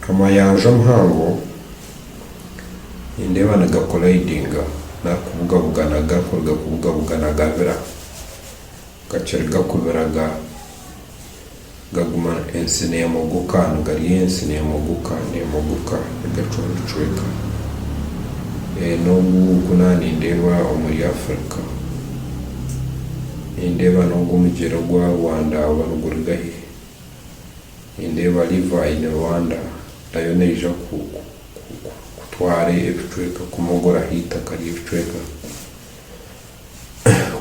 Amayanja omuhango nindeeba nigakoraidinga nari kubugabugana garikuruga kubugabugana gabira gakiri gakubira gaguma ensi nemogoka nigarya ensi nemogoka nemogoka nigacwamu ebicweka nogu naaha nindeeba omuri Africa nindeeba nogu omugyera ogwa Rwanda oba niguruga haihi Nindeeba River in Rwanda nayo neija kutwara ebicweka kumogoraho eitaka ry'ebicweka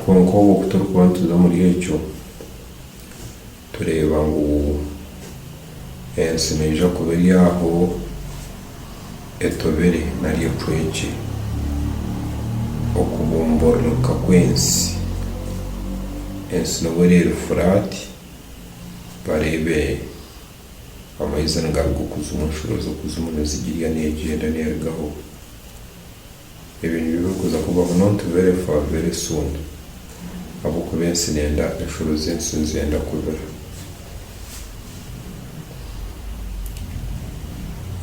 kwonka obwo ku turikuba nituza omuri ekyo tureeba ngu ensi neija kuba eri aho etobire nari ecwekye okubumbururuka kw'ensi. Ensi nibwo ereeri furaati. bareebe amaizi nigaruga okuzimu, enshuro z'okuzimu nizigirya neegyenda neerugaho. Ebyo nibyo birikuza kubaho nobu nitubeera efa very soon ahabw'okuba ensi neenda enshuro z'ensi nizenda kubira.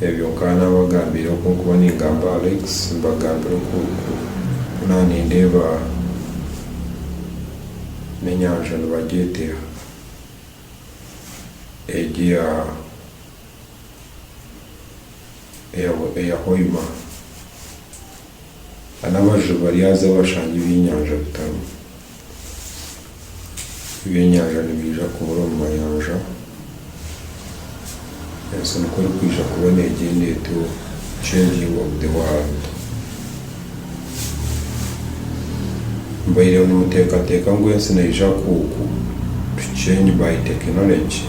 Ebyo nkaba nabagambire oku nkuba ningamba Alex mbagambira oku naanindeeba n'enyanja nibagyete egi eya Hoima nana abajubi baryaza bashange ebyenyanja bitarimu. ebyenyanja nibiija kubura omu mayanja, ensi nikwo erikwija kuba negyenda etuura, changing of the world. Mubaire nimutekateka ngu ensi neyija ku to change by technology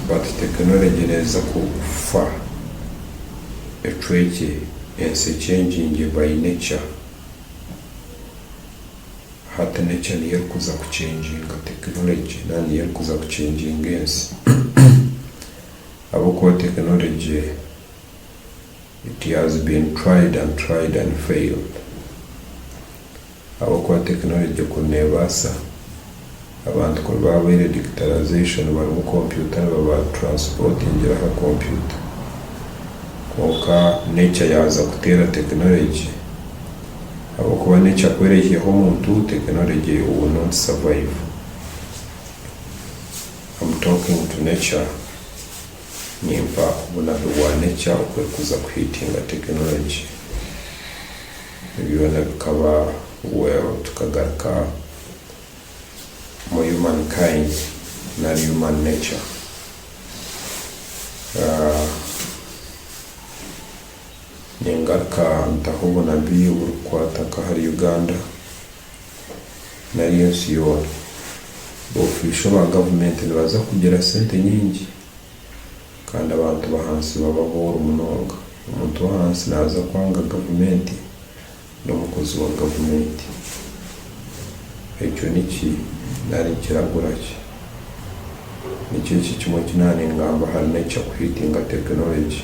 but technology neza ku kufa ecwekye ensi echanginge by nature. Hati nekya niyo erikuza kucengyinga tekinologye nari niyo erikuza kucengyinga ensi ahabw'okuba tekinologye it has been tried and tried and failed ahabw'okuba tekinologye kuri neebaasa Abantu kuri baaboire digitalisation barimu kompyuta nibabatransportingira aha kompyuta. Kwonka nature yaaza kuteera technology. Ahabw'okuba nature ku eraihireho omuntu, technology will not survive. Am talking to nature. Nimpa obunabi bwa nature oku erikuza kuhitinga technology. Byona bikaba well tukagaruka. omu human kind nari human nature ningaruka ntaho obunabi oburikukwata nk'ahari Uganda nari ensi yoona of iswe ba gavumenti nibaza kugira sente nyingi kandi abantu bahansi baba abooro munonga omuntu w'ahansi naza kwanga gavumenti. n'omukozi wa gavumenti. Ekyo niki nari nikiragura ki? Nikyo eki kimwe eki naaba ningamba, harimu ekya kuhiitinga tekinologi.